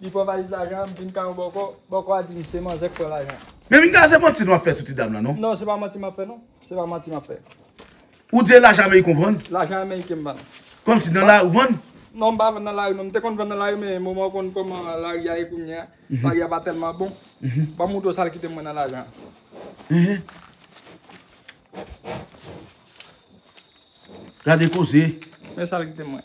Li pran valiz lajan an, m vin kay yon bòkò, bòkò a di m se manzè k pran lajan an. Men vin kay a se manti nou ap fè sou ti dam lan non. Non se pa manti map fè non, se pa manti map fè. Ou di e lajan ameriken ou vann? Lajan ameriken m vann. Kòmsi nan lari ou vann? Non m pa vann nan lari non, m te konn vann nan lari men moman ou konn kòman lari a ye kounye a, lari a pa tèlman bon. Banm moutre w sa l kite mwen nan lajan an. Gade koze. Men sa l kite mwen.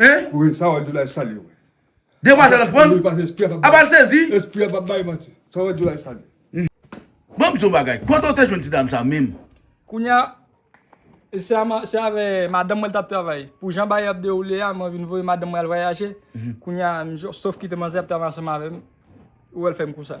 Hein? Wi sa wè di la e sal ye wi. Demwazèl la pranl? Wi pase espri a pap bay. Apa l sezi? Espri a pap bay manti. Sa wè di la e sal ye. Banm di yon bagay, kote w te jwenn ti dam sa menm? Kounya se avè madanm mwen li tap travay. Pou jan bagay yo ap dewoule a mwen vin voye madanm mwen al vwayaje, kounya sof kite manzè ap travay ansanm avèm, ou wèl fèm kou sa.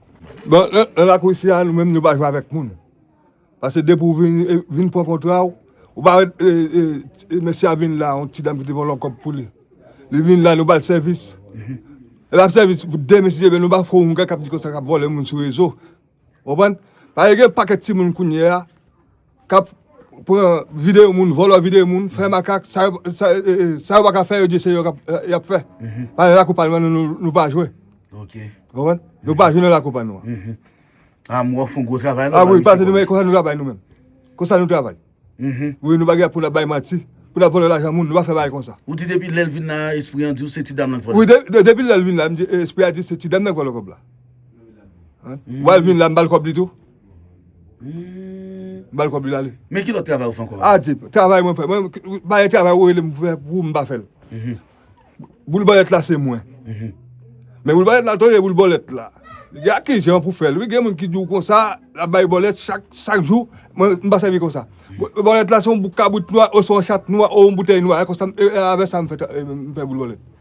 Bon nan lakou isi a nou menm nou pa jwe avèk moun. Pase depi ou vin pran kontra ou, ou pa wè mesye a vin la yon ti dam ki te pran lòt kòb pou li. Li vin la nou ba l sèvis. Li ba l sèvis pou de mesye men nou ba fè yon gè k ap di konsa k ap vòlè moun sou rezo. Ou konprann? Paske gen yon pakèt timoun kounyeya. kap pran video moun vòlò video moun fè makak sa yo paka fè yo di se yo yap fè pale lakou pa nou nou pa jwe nou pa jwe nan lakou pa nou a mwen fon gwo travay a mwen pase nou men konsa nou travay nou men konsa nou travay mwen nou bagay pou nou bay manti pou nou vòlò lajan moun nou pa fè bagay konsa ou di depi lèl vin nan espri an di ou se ti dam nan vòlò kòb depi lèl vin nan espri an di ou se ti dam nan vòlò kòb la wèl vin nan bal kòb li tou M bal kob li lale. Men ki lot travay ou fe anko la. Adye travay mwen fe. Mwen baye travay ou relem pou fe pou ou m pa fel. Boul bolet la se mwen. Men boul bolet la tande boul bolet la. Gen ak ki jan pou fel wi gen moun ki di ou konsa la bay bolet chak jou mwen m pa sevi konsa. Bolet la se yon bouk kabrit nwa oswa yon chat nwa oswa yon boutey nwa e konsa e avè sa m fe boul bolet.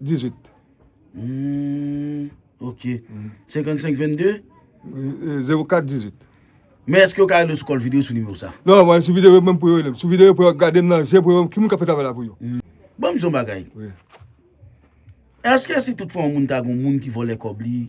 18. Humm ok 55 22? 04 18. Men eske yo ka rele w sou kòl video sou nimewo sa? Non mwen sou video menm pou yo relem. Sou video pou yo gadem nan je pou yo wèm ki moun kap fè travay la pou yo. Banm di yon bagay. Wi. Eske si tout fwa yon moun ta gen yon moun ki vòlè kòb li.